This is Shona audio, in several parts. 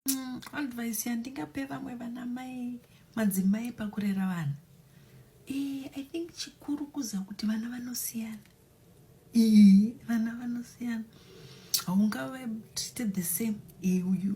mm, advice yandingape vamwe vana mai madzimai pakurera vana e, i think chikuru kuza kuti vana vanosiyana e, vana vanosiyana haungavaite the same e, uyu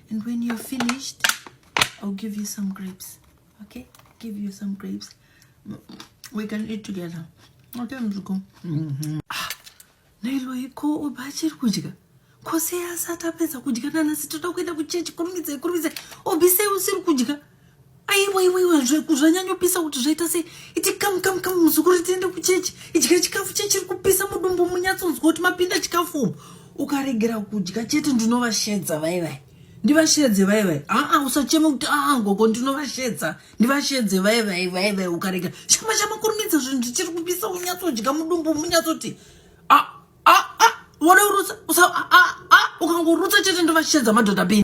and when you're finished i'll give you some grapes okay give you some grapes we can eat together okay mzuko mm -hmm. ah, nailoiko oba achiri kudya kose asati apedza kudya nanasi toda kuenda kuchechi kurumidzai kurumidzai obisei usiri kudya aiwa iwa iwa zvanyanyopisa kuti zvaita sei iti kamu kamu kamu muzukuru tiende kuchechi idya chikafu chechiri kupisa mudumbu munyatsonzwa kuti mapinda chikafu umu ukaregera kudya chete ndinovashedza vai vai ndivashedze vai vai aa usacheme kuti aa ngoko ndinovashedza ndivashedze vai vai vai vai ukaregera shama shama kurumidza zvinhu zvichiri kupisa unyatsodya mudumbu munyatsoti a a a wode urutsa usa a a a ukangorutsa chete ndovashedza madhodha bini